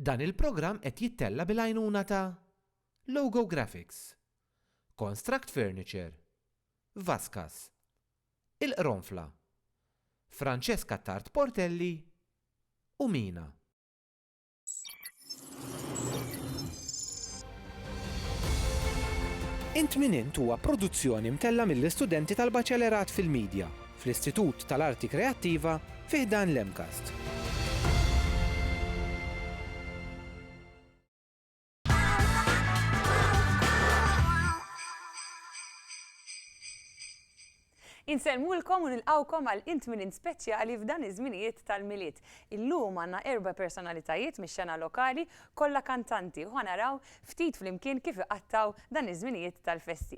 Dan il-programm qed jittella' bil-għajnuna ta' Logo Graphics, Konstract Furniture, Vascas, Il-Qronfla, Francesca Attard Portelli u Mina. Int Min Int huwa produzzjoni mtella' mill-istudenti tal-Baċelerat fil-Midja fl-Istitut tal-Arti Kreattiva fi ħdan l-MCAST. Insellmulkom u nilqgħukom għal Int Min Int speċjali f'dan iż-żminijiet tal-Milied. Illum għandna erba' personalitajiet mix-xena lokali, kollha kantanti u ħa naraw ftit flimkien kif iqattgħu dan iż-żminijiet tal-festi.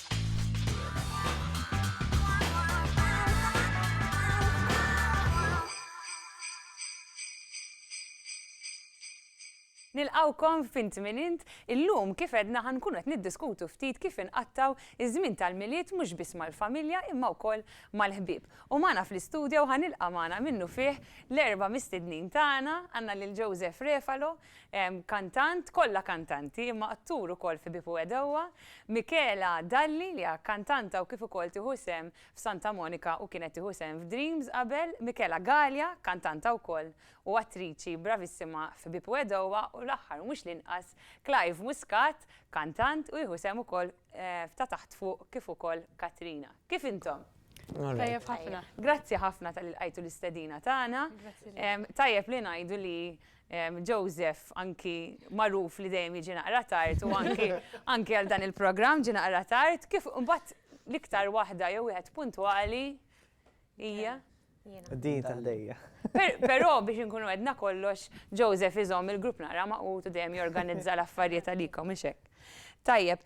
Nilqgħukom f'Int Min Int. Illum, kif għedna, ħa nkunu qed niddiskutu ftit kif inqattgħu ż-żmien tal-Milied mhux biss mal-familja imma wkoll mal-ħbieb. U magħna fl-istudio ħa nilqa' magħna minnufih l-erba' mistednin tagħna, għandna lil Joseph Refalo, Kantant, kollha kantanti, imma attur ukoll fi Bipu Għedewwa, Michela Dalli li hija kantanta u kif ukoll tieħu sehem f'Santa Monica u kienet tieħu sehem f'Dreams qabel, Michela Galea, kantanta wkoll u attriċi bravissima fi Bipu Għedewwa u l-aħħar u mhux l-inqas Clive Muscat, kantant u jieħu sehem ukoll f'Ta' Taħt Fuq kif ukoll Katrina. Kif intom? Tajjeb ħafna. Grazzi ħafna talli lqajtu l-istedina tagħna. Tajjeb li ngħidu li Joseph anki magħruf li dejjem jiġi naqra tard u anki anki għal dan il-programm ġie naqra tard. Kif imbagħad l-iktar waħda jew wieħed puntwali hija? Din ta' ħdejja. Però biex inkunu għedna kollox, Joseph iżomm il-grupp naqra magħqud u dejjem jorganizza l-affarijiet għalikom, mhux hekk? Tajjeb,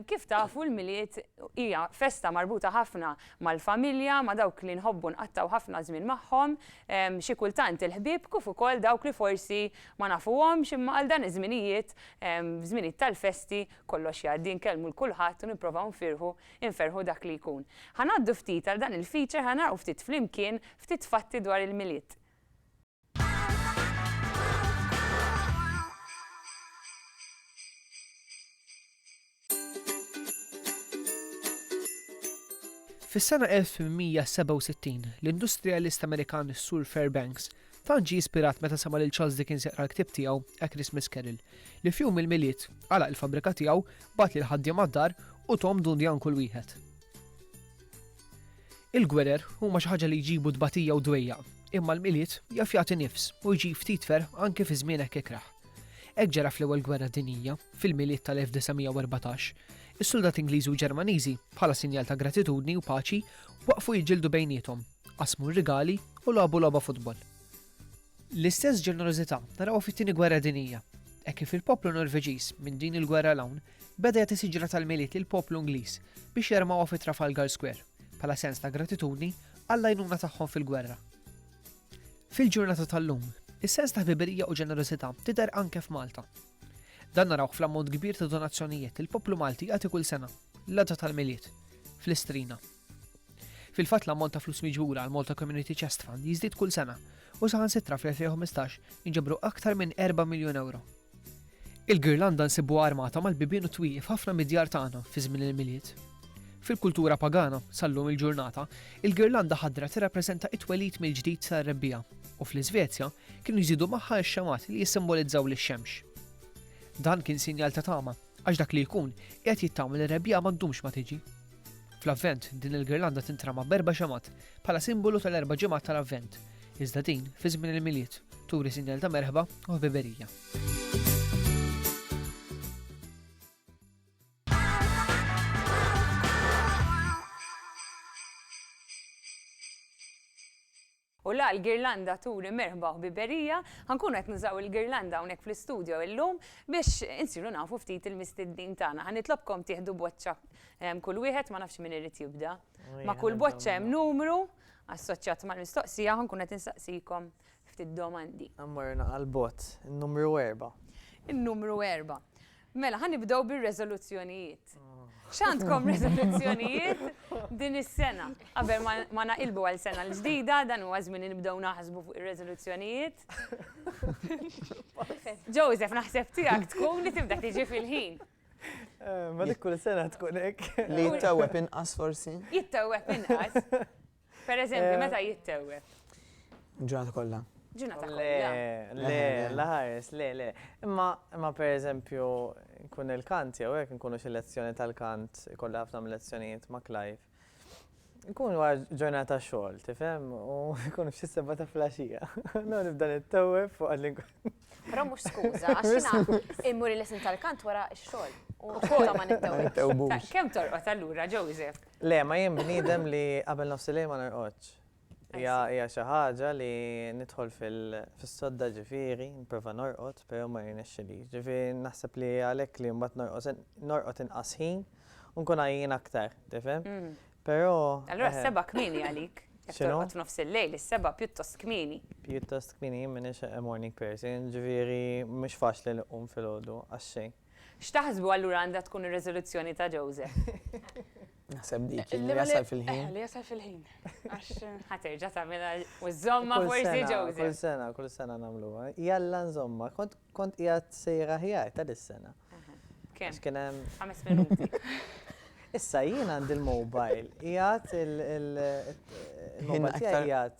kif tafu l-Milied hija festa marbuta ħafna mal-familja, ma' dawk li nħobbu nqattgħu ħafna żmien magħhom, xi kultant il-ħbieb kif ukoll dawk li forsi ma nafuhomx imma għal dan iż-żminijiet, f'żminijiet tal-festi kollox jgħaddi nkellmu 'l kulħadd u nipprovaw nfirħu nferrħu dak li jkun. Ħa ngħaddu ftit għal dan il-feature ħa naraw ftit flimkien ftit fatti dwar il-Milied. Fis-sena 1867, l-industrijalist Amerikan Sur Fairbanks tant ġie ispirat meta sema' lil Charles Dickens jaqra l-ktieb tiegħu A Christmas Carol li f'jum il-Milied għalaq il-fabbrika tiegħu, bagħat lill-ħaddiema d-dar u thom dundjan kull wieħed. Il-gwerer huma xi ħaġa li jġibu tbatija u dwejjaq, imma l-Milied jaf jagħti nifs u jġib ftit ferħ anki fi żmien hekk ikrah. Hekk ġara fl-Ewwel Gwerra Dinjija, fil-Milied tal-1914, is-suldat Ingliżi u Ġermaniżi, bħala sinjal ta' gratitudni u paċi, waqfu jiġġieldu bejniethom, qasmu r-rigali u lagħbu logħba futbol. L-istess ġenerożità narawha fit-Tieni Gwerra Dinjija, hekk kif il-poplu Norveġiż minn din il-gwerra 'l hawn beda jagħti siġra tal-Milied lill-poplu Ingliż biex jarmawha fi Trafalgar Square bħala sens ta' gratitudni għall-għajnuna tagħhom fil-gwerra. Fil-ġurnata tal-lum, is-sens ta' ħbiberija u ġenerożità tidher anke f'Malta. Dan narawh fl-ammont kbir ta' donazzjonijiet li l-poplu Malti jagħti kull sena, l-għada tal-Milied, fl-Istrina. Fil-fatt l-ammont ta' flus miġbura għal Malta Community Chest Fund jiżdied kull sena u saħansitra fl-2015 inġabru aktar minn 4 miljun euro. Il-girlanda nsibuha armata mal-bibien u t-twieqi f'ħafna mid-djar tagħna fi żmien il-Milied. Fil-kultura pagana, sal-lum il-ġurnata, il-girlanda ħadra tirrappreżenta t-twelid mill-ġdid tar-rebbiegħa, u fl-Iżvezja kienu jżidu magħha x-xemgħat li jissimboliżżaw lix-xemx. Dan kien sinjal ta' tama. Għax dak li jkun, qiegħed jittama li r-rebbiegħa ma ddumx ma tiġi. Fl-Avvent, din il-girlanda tintrama b'erba' xemgħat bħala simbolu tal-erba' ġimgħat tal-Avvent, iżda din, fi żmien il-Milied, turi sinjal ta' merħba u ħbiberija. U la, l-girlanda turi merħba u ħbiberija, ħa nkunu qed nużaw il-girlanda hawnhekk fl-istudio illum biex insiru nafu ftit il-mistednin tagħna. Ħa nitlobkom tieħdu boċċa kull wieħed, ma nafx min irid jibda. Ma' kull boċċa hemm numru assoċjat mal-mistoqsija, ħa nkun qed insaqsikom ftit domandi. Immorru naqra 'l bogħod, in-numru erba'. In-numru erba'. Mela, ħa nibdew bir-reżoluzzjonijiet. X'għandkom reżoluzzjonijiet din is-sena? Qabel ma naqilbu għal sena l-ġdida, dan huwa żmien li nibdew naħsbu fuq ir-reżoluzzjonijiet. Joseph, naħseb tiegħek tkun li tibda tiġi fil-ħin. Ma dik kull sena tkun hekk. Li jittewweb inqas forsi? Jittewweb inqas. Per eżempju, eh, meta jittewwe? Ġurnata kollha. Ġurnata kollha. Le, la ħares, le, le. Imma, imma per eżempju, nkun il-kant jew hekk nkunu xi lezzjoni tal-kant, kollha ħafna lezzjonijiet ma' Clive. Nkun war ġurnata xogħol, tifhem, u nkun f'xi seba ta' flaxija. No nibda nittewwe fuq għadli. Però mhux skuża, għax jiena immur il-lesin tal-kant wara x-xogħol. U xogħol ma nittewwe. Kemm torqod allura, Joseph? Le, ma jien bniedem li qabel nofsilejl ma norqodx. Hija hija xi ħaġa li nidħol fil fis-sodda ġifieri nipprova norqod però ma jirnexxilix. Ġifieri naħseb li għalhekk li mbagħad norqos norqod inqas ħin u nkun għajjien aktar, tifhem? Però Allura s-sebgħa kmieni għalik. Jekk X'inhu? torqod f'nofsillejl, is-sebgħa pjuttost kmieni. Pjuttost kmieni, jien m'iniex a morning person, ġifieri mhux faċli li nqum filgħodu għax-xejn. X'taħsbu allura għandha tkun ir-riżoluzzjoni ta' Joseph? Naħseb dik li jasal fil-ħin. Eh, li jasal fil-ħin. Ħaterġa tagħmilha u żomma forsi ġewżi. Kull sena, kull sena nagħmluha. Jalla nżomma, kont qiegħed sejra ħjar ta' dis-sena. Kemm? Kien hemm. Ħames minuti. Issa jien għandi l-mobile, qiegħed il-mobile tiegħi qiegħed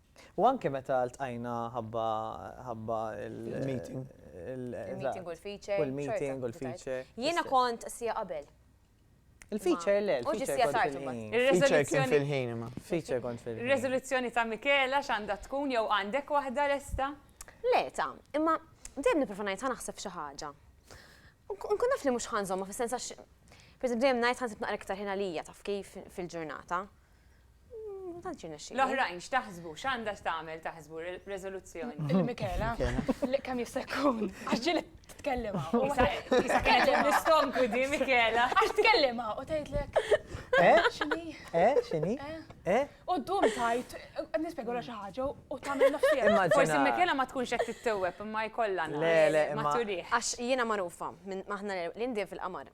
U anke meta ltqajna ħabba ħabba il-meeting. Il-meeting u l-feature. U l-meeting u l-feature. Jiena kont sija qabel. Il-feature le, il-feature kont fil-ħin. Il-feature kien fil-ħin imma. Feature kont fil-ħin. Ir-riżoluzzjoni ta' Michela x'għandha tkun jew għandek waħda lesta? Le ta, imma dejjem nipprova ngħid ħa naħseb xi ħaġa. Nkun naf li mhux ħa nżommha fis-sens għax pereżempju dejjem ngħid ħa nsib naqra iktar ħin għalija taf kif fil-ġurnata. Ma tantx irnexxieli. L-oħrajn x'taħsbu? X'għandha x'tagħmel taħsbu riżoluzzjoni? Il-Mikela. Kemm jista' jkun? Għax ġieli tkellima. Issa kellem l-istonku di Mikela. Għax tkellima u tgħidlek. Eh? X'inhi? Eh? X'inhi? Eh? eh? U ddum tajt, nispjegolha xi ħaġa u tagħmel nofsija. Forsi Mikela ma tkunx qed tittewweb imma jkollha. Le, le, ma turih. Għax jiena magħrufa, aħna l-indien fil-qamar.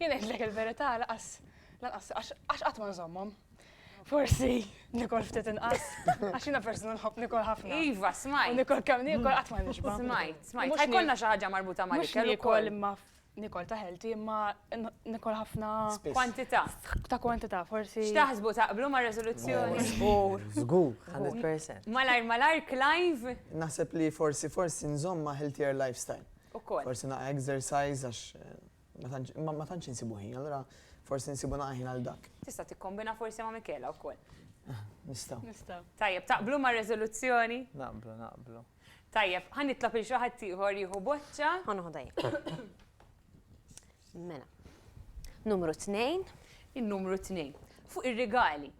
Jien ngħidlek il-verità lanqas lanqas għax qatt ma nżommhom. Forsi nikol ftit inqas, għax jiena persuna nħobb nikol ħafna. Iva, smajt. Nikol kemm nikol qatt ma nixba'. Smajt, smajt. Mhux ikollna xi ħaġa marbuta ma' l-ikel. Mhux nikol imma nikol ta' healthy imma nikol ħafna. Kwantità. Ta' kwantità, forsi. X'taħsbu taqblu ma' resoluzzjoni? Żgur. Żgur, 100%. Malajr malajr, Clive? Naħseb li forsi forsi nżomm ma' healthier lifestyle. Ukoll. Forsi naqra exercise għax. Ma tantx insibu ħin, allura forsi nsibu naqra ħin għal dak. Tista' tikkombina forsi ma' Michela wkoll. Nistgħu. Nistgħu. Tajjeb, taqblu mar-reżoluzzjoni? Naqblu, naqblu. Tajjeb, ħa nitlob lil xi ħadd ieħor jieħu boċċa. Ħa noħodha jien. Mela. Numru tnejn. In-numru tnejn. Fuq ir-rigali.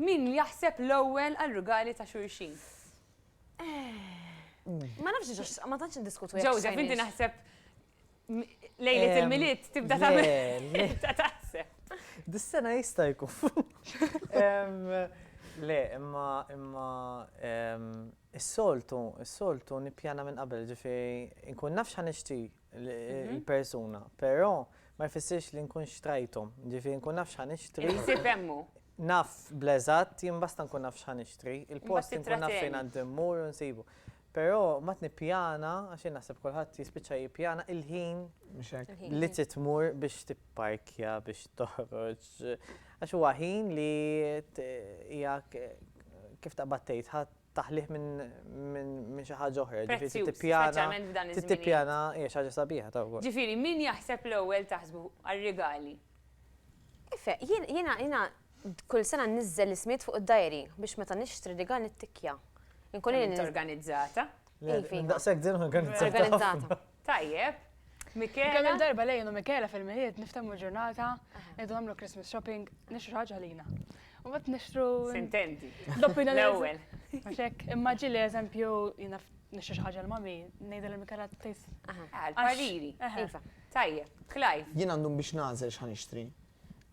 Min jaħseb l-ewwel għar-rigali ta' xulxin? Ma nafx, ma tantx niddiskutu. Joseph, inti naħseb Lejlet il-miliet tibda tagħmel. Dis-sena jista' jkun. Le, imma imma is-soltu, is-soltu nippjana minn qabel, ġifieri nkun naf x'ħa nixtri l-persuna, però ma jfissirx li nkun xtrajthom, ġifieri nkun naf x'ħa nixtri. Il-ħsieb hemm hu. Naf bl-eżatt, jien basta nkun naf x'ħa nixtri, il-post inkun naf fejn għandi mmur u nsibu. Però ma tnippjana, għax jien naħseb kulħadd jispiċċa jippjana il-ħin li trid tmur biex tipparkja, biex toħroġ. Għax huwa ħin li hija kif taqbad tgħid taħlih minn xi ħaġa oħra. Ġifieri tippjana, tippjana hija xi ħaġa sabiħa ta' wkoll. Ġifieri min jaħseb l-ewwel taħsbu għar-rigali. Ife, jiena jiena Kull sena nniżżel l-ismijiet fuq id-dajri biex meta nixtri rigal nittikkja. Inkun Kemm int organizzata. Iva. Daqshekk din organizzata. Organizzata. Tajjeb. Mikela. Kemm il-darba li jien u Mikela fil-Milied niftehmu l-ġurnata, ngħidu nagħmlu Christmas shopping, nixtru ħaġa għalina. U mbagħad nixtru. Sintendi. Doppina l-ewwel. Mhux hekk. Imma ġieli eżempju jiena nixtri xi ħaġa l-mommy, ngħidha lil Mikela tgħid. Aha. Għall-pariri. Iva. Tajjeb. Clive. Jien għandhom biex nagħżel x'ħa nixtri.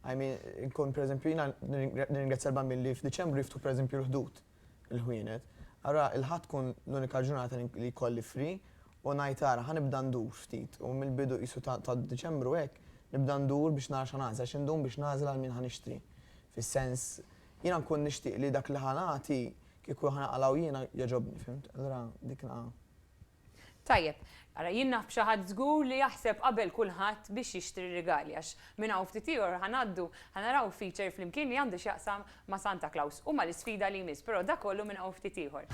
I mean, inkun per eżempju jiena nirringrazzja l-bambin li f'Diċembru jiftu per eżempju l-ħdud, il-ħwienet. Ara, il-Ħadd tkun l-unika ġurnata li jkolli free u ngħid ara ħanibda ndur ftit u mill-bidu qisu ta' Diċembru hekk nibda ndur biex nara x'ħa nagħżel għax indum biex nagħżel għal min ħa nixtri. Fis-sens, jiena nkun nixtieq li dak li ħa nagħti kieku ħa naqalgħu jiena jogħġobni, fimt? Allura dik Tajjeb, ara jien naf b'xi ħadd żgur li jaħseb qabel kulħadd biex jixtri rigali għax minn hawn ftit ieħor ħa ngħaddu ħa naraw feature flimkien li għandu x'jaqsam ma' Santa Claus u mal-isfida li jmiss però dak kollu minn hawn ftit ieħor.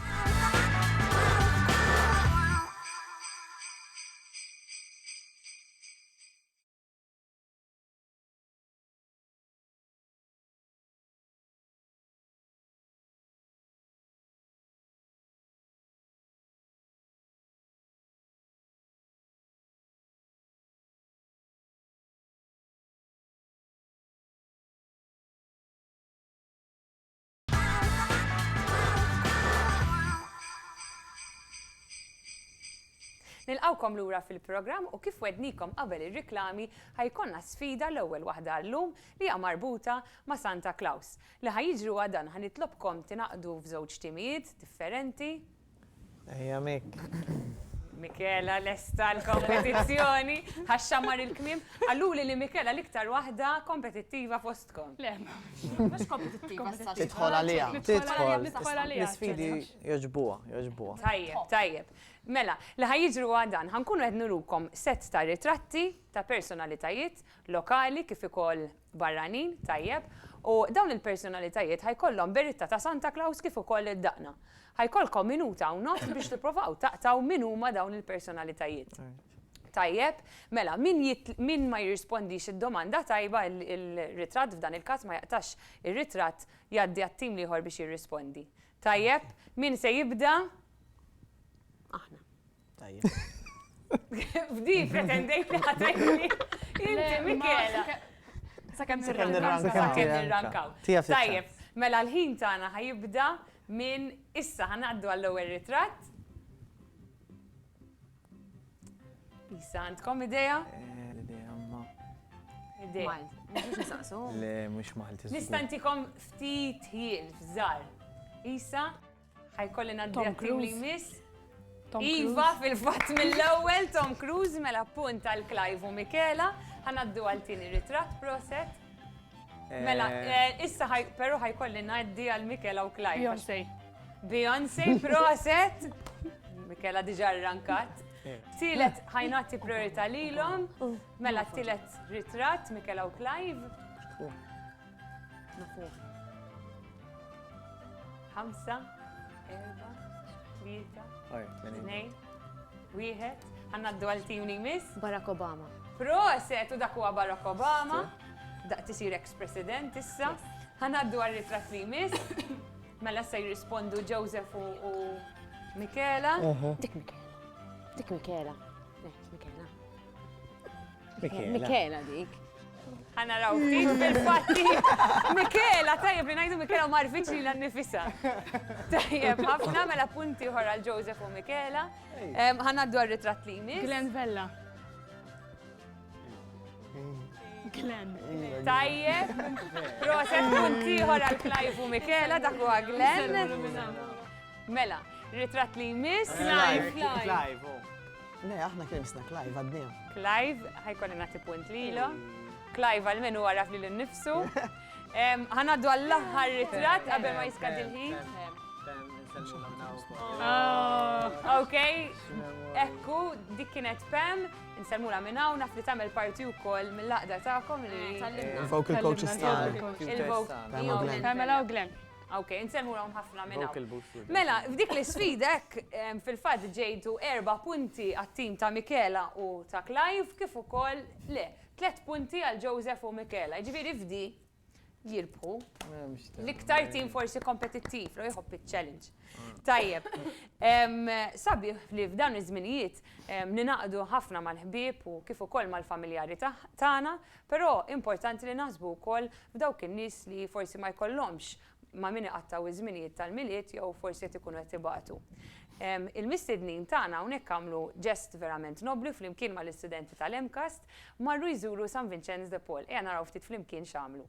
Nilqgħukom lura fil-programm u kif wednikom qabel ir-riklami ħajkonna sfida l-ewwel waħda għal-lum li hija marbuta ma' Santa Claus. Li ħa jiġri huwa dan ħa nitlobkom tingħaqdu f'żewġ timijiet differenti. Ejja Mik. Michela lesta l-kompetizzjoni, ħa xammar il-kmiem. Qaluli li Michela l-iktar waħda kompetittiva fostkom. Le, mhux kompetittiva. Tidħol għaliha. Tidħol. L-isfidi jogħġbuha, jogħġbuha. Tajjeb, tajjeb. Mela, li ħa jiġri huwa dan, ħa nkunu qed nurukom sett ta' ritratti ta' personalitajiet lokali kif ukoll barranin, tajjeb, u dawn il-personalitajiet ħa jkollhom beritta ta' Santa Claus kif ukoll id-daqna. Ħa jkollkom minuta u nofs biex tippruvaw taqtgħu min huma dawn il-personalitajiet. Tajjeb, mela, min min ma jirrispondix id-domanda tajba il-ritratt f'dan il-każ ma jaqtax ir-ritratt jgħaddi għat-tim l-ieħor biex jirrispondi. Tajjeb, min se jibda? Aħna. Tajjeb. Fdi, pretendejt li ħatajni. Inti, Mikela. Sakemm nirrankaw. Sakemm nirrankaw. Tajjeb, mela l-ħin tagħna ħajibda minn issa ħanaddu għall-ewwel ritratt. Issa għandkom idea? Eh, l-idea ma. Idea. Le, mhux Malti. Nistantikom ftit ħin f'żar. Isa? Ħajkolli ngħaddi għat-tim li jmiss. Iva, fil-fatt mill-ewwel Tom Cruise mela punt għal Clive u Michela, ħanaddu għal tieni ritratt proset. Mela, eh. Eh, issa però ħajkolli ngħaddi għal Michela u Clive. Beyoncé. Beyoncé proset. Michela diġà rrankat. Eh. Tielet ħajnati priorità lilhom, mela tielet ritratt Michela u Clive. Nafuh. Ħamsa, erba, tlieta, tnejn, wieħed. Għanna d-dwal tim li jmiss. Barack Obama. Proset, u dak huwa Barack Obama. Daq tisir ex-president issa. Għanna d-dwal ritrat li jmiss. Mela se jirrispondu Joseph u Michela. Dik Michela. Dik Michela. Dik Michela. Mikela dik. Għana raw fik bil-fatti. Mikela, tajjeb li najdu Mikela u marfiċ li l-nifisa. Tajjeb, ħafna mela punti uħor għal Joseph u Mikela. Għana dwar ritrat li jmiss. Glenn Vella. Glenn. Tajjeb, proset punti uħor għal Clive u Mikela, dak u Glenn. Mela, ritrat li jmiss. Clive, Clive. Oh. Le, aħna kien misna Clive għadnija. Clive, ħajkolli nagħti punt lilu. Clive għal menu għaraf li l-nifsu. Ħanaddu għall-aħħar ritrat qabel ma jiskad il-ħin. Oh, ok, ekku, dik kienet Pam, nsalmula minn hawn naf li tagħmel parti wkoll mill-laqda tagħkom li. Eh, Il-vocal coaches tagħna. Il-vocal. Pamela u Glenn. Ok, nsemmu hawn ħafna minn hawn. Mela, f'dik l-isfida hekk fil-fatt ġejtu erba' punti għat-tim ta' Michela u ta' Clive kif ukoll le, tliet punti għal Joseph u Michela. Jiġifieri f'di jirbħu l-iktar tim forsi kompetittiv li jħobb iċ-challenge. Tajjeb. Sabiħ li f'dawn iż-żminijiet ninaqdu ħafna mal-ħbieb u kif ukoll mal-familjari tagħna Però importanti li naħsbu wkoll f'dawk in-nies li forsi ma jkollhomx ma' min iqattgħu iż-żminijiet tal-Milied jew forsi qed ikunu qed ibatu. Il-mistednin tagħna hawnhekk għamlu ġest verament nobbli u flimkien mal-istudenti tal-MCAST marru jżuru San Vinċenz de Paul. Ejja naraw ftit flimkien x'għamlu.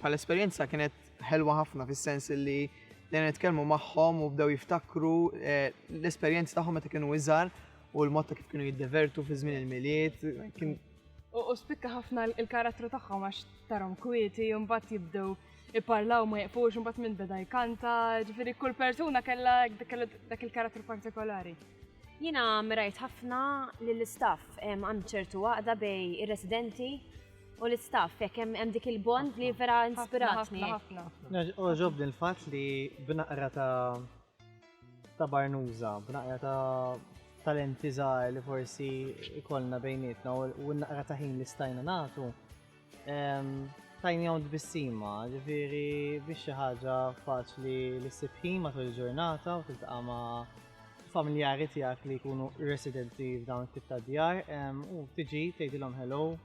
bħal esperjenza kienet ħelwa ħafna fis-sens li dejna nitkellmu magħhom u bdew jiftakru eh, l-esperjenzi tagħhom meta kienu iżgħar u l-mod ta' kif kienu jiddevertu fi żmien il-miliet. U spikka ħafna il-karattru tagħhom għax tarhom kwieti, mbagħad jibdew iparlaw ma jqfux, mbagħad minn beda jkanta, ġifieri kull persuna kellha dak il-karattru partikolari. Jiena mirajt ħafna lill istaff hemm ċertu għaqda bej ir-residenti u l-istaff, jekk hemm dik il-bond li vera inspiratni. Ħafna, ħafna. Oġobni l-fatt li b'naqra ta' ta' barnuża, b'naqra ta' talenti żgħar li forsi ikollna bejnietna u naqra ta' ħin li stajna nagħtu, ehm, tajni għaw tbissima, ġifiri biex xi ħaġa faċli li ssib ħin matul il-ġurnata u tiltaqa' ma' familjari tiegħek li jkunu residenti f'dawn it-tip ta' djar ehm, u tiġi tgħidilhom hello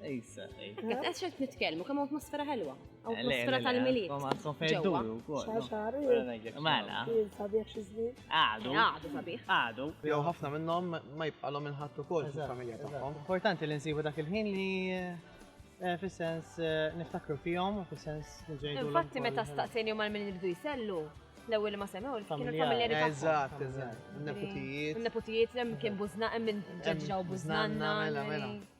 Issa, issa. Għax qed nitkellmu kemm atmosfera ħelwa. Atmosfera tal-miliet. Ma sofejdu wkoll. Xaxar. Mela. Sabiħ xi żmien. Għadu. Għadu sabiħ. Għadu. Jew ħafna minnhom ma jibqalhom inħadd ukoll fil-familja tagħhom. Importanti li nsibu dak il-ħin li eh, fis-sens eh, niftakru fihom, fis-sens ġejdu. Infatti meta staqsejn jom għal min jibdu jsellu, l-ewwel ma semgħu kienu familjari tagħhom. Eżatt, eżatt. Neputijiet. Neputijiet hemm kien bużna hemm minn ġeġġa u bużnanna. Mela, mela.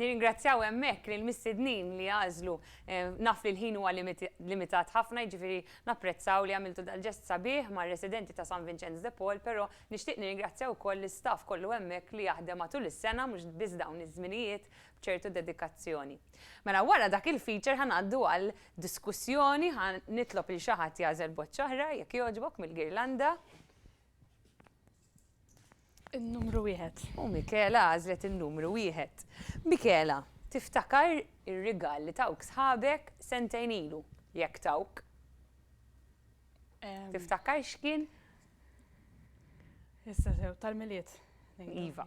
Nirringrazzjaw hemmhekk lill-mistednin li għażlu naf li l-ħin huwa limitat ħafna, jiġifieri napprezzaw li għamiltu dal-ġest sabiħ mar-residenti ta' San Vinċenz de Paul, però nixtieq nirringrazzja wkoll l-istaff kollu hemmhekk li jaħdem matul is-sena mhux biss dawn iż-żminijiet b'ċertu dedikazzjoni. Mela wara dak il-feature ħa ngħaddu għal diskussjoni, ħa nitlob lil xi ħadd jagħżel boċċa oħra jekk jogħġbok mill-girlanda. In-numru wieħed. U Mikela għażlet in-numru wieħed. Mikela, tiftakar ir-rigal li tawk sħabek sentejn ilu jekk tawk? Tiftakar x'kien? Issa sew tal-miliet. Iva.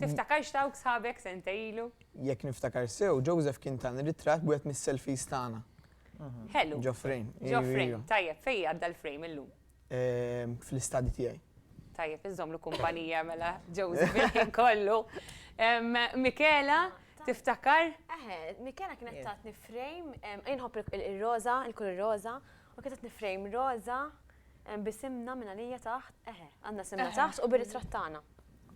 Tiftakarx tawk sħabek sentej ilu? Jekk niftakar sew, Joseph kien tani ritratt b'wieħed mis-selfies tagħna. Ħelu. Ġo frame. Ġo frame. Tajjeb, fejn għadda l-frame illum? Ehm, fl-istadi tiegħi. Tajjeb, iżomlu kumpanija mela Joseph il-ħin kollu. Ehm, Mikela, tiftakar? Eħe, Mikela kienet tatni frame, ehm, inħobb il-roza, il-kulur roza, u kienet tatni frame roza bisimna minna lija taħt, eħe, għandna simna taħt u bir-ritratt tagħna.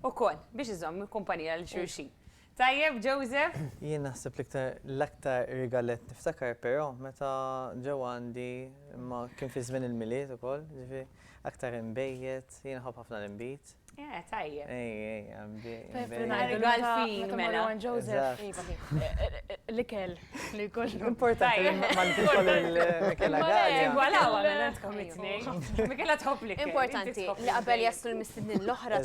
Ukoll, biex iżomm il-kumpanija lil xulxin. Tajjeb, Joseph? Jien naħseb l-iktar, l-aktar rigalett niftakar però meta ġew għandi, imma kien fi żmien il-Milied ukoll, ġifieri aktar inbejjed, jien nħobb ħafna l-inbid. Eh, tajjeb. Ej, ej, inbid. Rigal fin, mela. L-ikel. Li kollu. Importanti li ma nfil kollu l-Mikela Għalja. Għala, għala, għantkom it-tnejn. Mikela tħob li Importanti li qabel jaslu l-mistednin l-oħra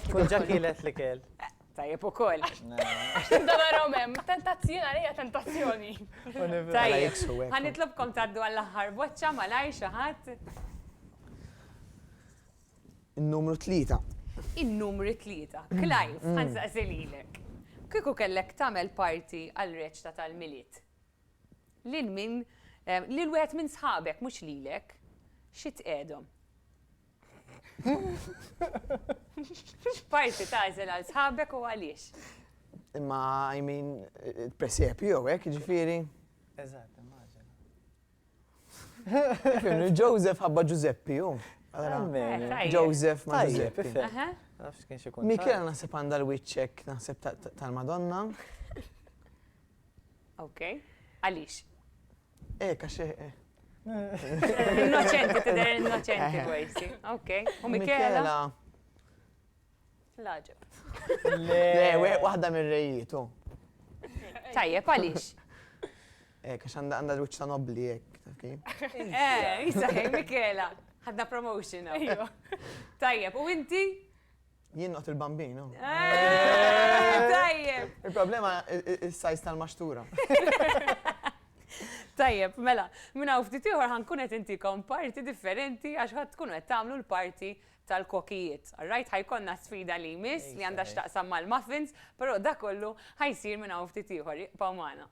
tkun ġakilet li kell. Tajjeb u koll. Dabarom hemm, tentazzjoni għalija tentazzjoni. Tajjeb, ħanitlobkom taddu għall-aħħar boċċa malaj xi ħadd. In-numru tlieta. In-numru tlieta. Clive, ħa nsaqsi lilek. Kieku kellek tagħmel party għal reċta tal-Milied, lil min, lil wieħed minn sħabek, mhux lilek, xi tqegħedhom? X'party tagħżel għal sħabek u għaliex? Imma, I mean, presepju jew hekk, jiġifieri. Eżatt, immaġina. Joseph ħabba Giuseppe, hu. Joseph ma' Giuseppe. Michela naħseb għandha l-wiċċek naħseb tal-Madonna. Ok, għalix? Eh, kaxi. Eh. Innoċenti, tidher innoċenti, għajsi. Ok, u Michela? L-għaġeb. Le, waħda mir-rejiet, u. Tajjeb, għaliex? Eh, għax għandha għandha l-wiċċ ta' nobbli hekk, taf kif? Eh, jisaħħi Michela. Ħadna promotion. Ejju. Tajjeb, u inti? Jien noqgħod il-bambin, u. Eh, tajjeb. Il-problema is-sajz tal-maxtura. Tajjeb, mela, minna u ftit ieħor ħankun qed intikom parti differenti għax ħadd tkunu qed tagħmlu l-parti tal-kokijiet. Alright, ħa jkollna sfida li jmiss li għandha x'taqsam mal-muffins, però dak kollu ħa jsir minn hawn ftit ieħor. Ibqgħu magħna.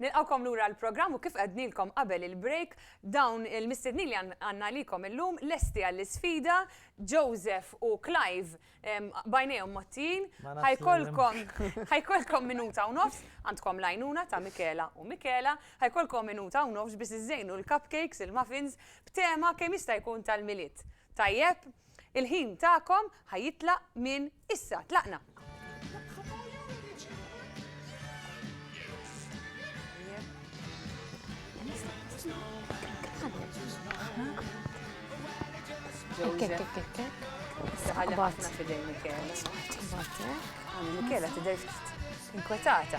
Nilqgħukom lura għall-programm u kif għednilkom qabel il-break, dawn il-mistednin li għandna għalikom illum lesti għall-isfida, Joseph u Clive b'għajnejhom mgħottijin, ħajkolkom minuta u nofs, għandkom l-għajnuna ta' Michela u Michela, ħajkolkom minuta u nofs biex iżżejnu l-cupcakes, il-muffins, b'tema kemm jista' jkun tal-Milied. Tajjeb? Il-ħin tagħkom ħa jitlaq minn issa. Tlaqna! Michela tidher inkwetata.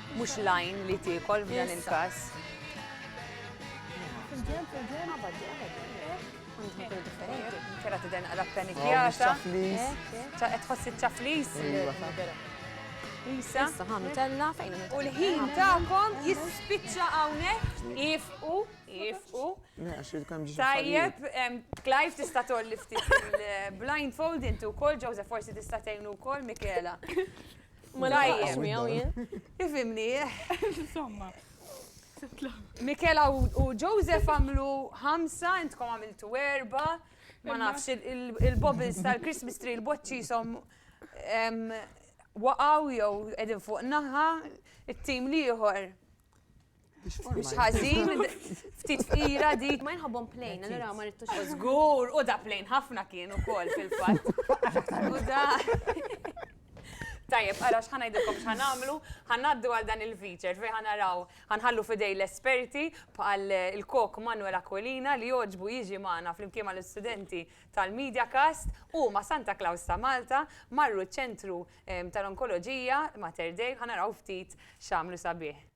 Mhux l-għajn li tiekol f'dan il-każ. Kera tidher naqra ppanikjata. Ta' qed tħoss iċ-ċaflis. Isa. Issa ħan tella fejn hemm. U l-ħin tagħkom jispiċċa hawnhekk. Ifqu, ifqu. Tajjeb, Clive tista' tolli ftit il-blindfold inti wkoll, Joseph forsi tista' tgħinu wkoll, Michela. Ma naqax miegħu jien. Ifimni. Insomma. Mikela u Joseph għamlu ħamsa, intkom għamiltu erba, ma nafx il-bobbles tal-Christmas tree, il-boċċi som waqaw jew edin fuq naħa, it-tim liħor Mux ħazin, ftit fira dik, ma jħobbon plejn, allora ma rittux. Zgur, u da plejn ħafna kien u kol fil-fat. U da. Tajjeb, għara xħan għajdilkom xħan għamlu, għaddu għal dan il-feature, fej għan għaraw, għan għallu fidej l-esperti għal il-kok Manuel Aquilina li joġbu jiġi maħna fl-imkiema l-studenti tal-Media Cast u ma Santa Claus ta' Malta marru ċentru tal-Onkoloġija, Mater Dei, ħa naraw ftit x'għamlu sabiħ.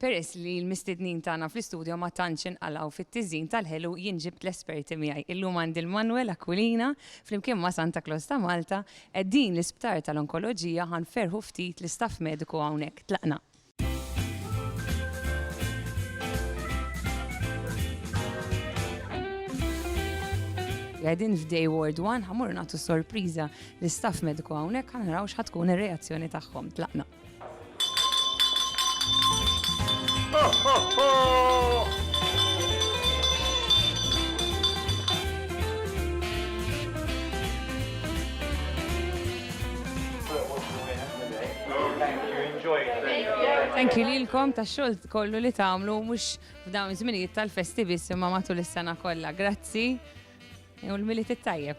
Peress li l-mistednin tagħna fl-istudjo ma tantx inqalgħu fit-tiżin tal-ħelu jien ġibt l-esperti miegħi. Illum għandi l-Manuel Aquilina flimkien ma' Santa Claus ta' Malta qegħdin l-Isptar tal-Onkoloġija ħa nferrħu ftit l-istaff mediku hawnhekk. Tlaqna. Għedin f'Day Ward 1 ħamur nagħtu sorpriża l staff mediku hawnhekk ħanaraw x'ħatkun ir-reazzjoni tagħhom tlaqna. Anki lilkom ta' xogħol kollu li tagħmlu mhux f'dawn żminijiet tal-festi biss imma matul is-sena kollha. Grazzi. U l-milit it-tajjeb.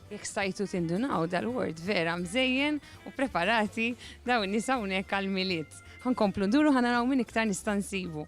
Jekk stajtu tindunaw dal-word vera mżejjen u preparati daw in-nies hawnhekk għall-Milied. Ħankomplu nduru ħanaraw min iktar nista' nsibu.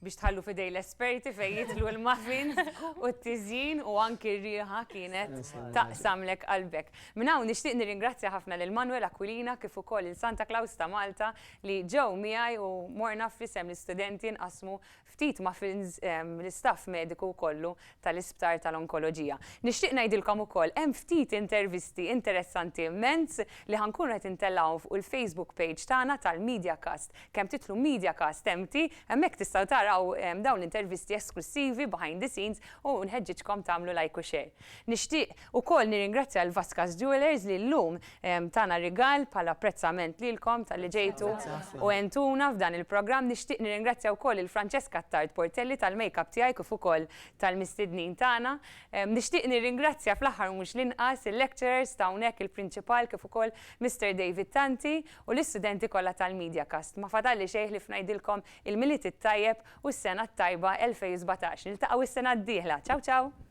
biex tħallu fidej l-esperti fejn jitlu l-muffins u t-tiżjin u anki r-riħa kienet taqsamlek qalbek. Minn hawn nixtieq nirringrazzja ħafna lil Manuel Aquilina kif ukoll il Santa Claus ta' Malta li ġew miegħi u morna fl-isem l-istudenti nqassmu ftit muffins l-istaff mediku kollu tal-Isptar tal-Onkoloġija. Nixtieq ngħidilkom ukoll hemm ftit intervisti interessanti immens li ħa nkunu qed intellgħuhom fuq il-Facebook page tagħna tal-MediaCast. Kemm titlu MediaCast empty, hemmhekk tistgħu taraw dawn l-intervisti esklussivi behind the scenes u nħeġġiġkom tagħmlu like u share. Nixtieq Ukoll nirringrazzja lil Vasquez Jewellers li llum tana rigal bħala apprezzament lilkom talli ġejtu u għentuna f'dan il-programm. Nixtieq nirringrazzja wkoll lil Francesca Attard Portelli tal-makeup tiegħi kif ukoll tal-mistednin tagħna. Nixtieq nirringrazzja fl-aħħar u mhux l-inqas il-lecturers ta' hawnhekk il-Prinċipal kif ukoll Mister David Tanti u l-istudenti kollha tal-MediaCast. Ma fadalli xejn ħlief ngħidilkom il-Milied it-tajjeb u s-sena t-tajba 2017. Niltaqgħu s-sena d-dieħla. Ciao ciao!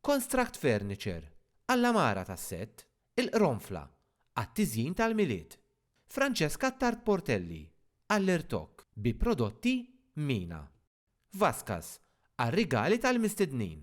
Konstract Furniture, għall-għamara tas-sett, il-qronfla, għat-tiżjin tal-Milied, Francesca Attard Portelli, għall-irtokk, bi prodotti Mina. Vascas, għar-rigali tal-mistednin.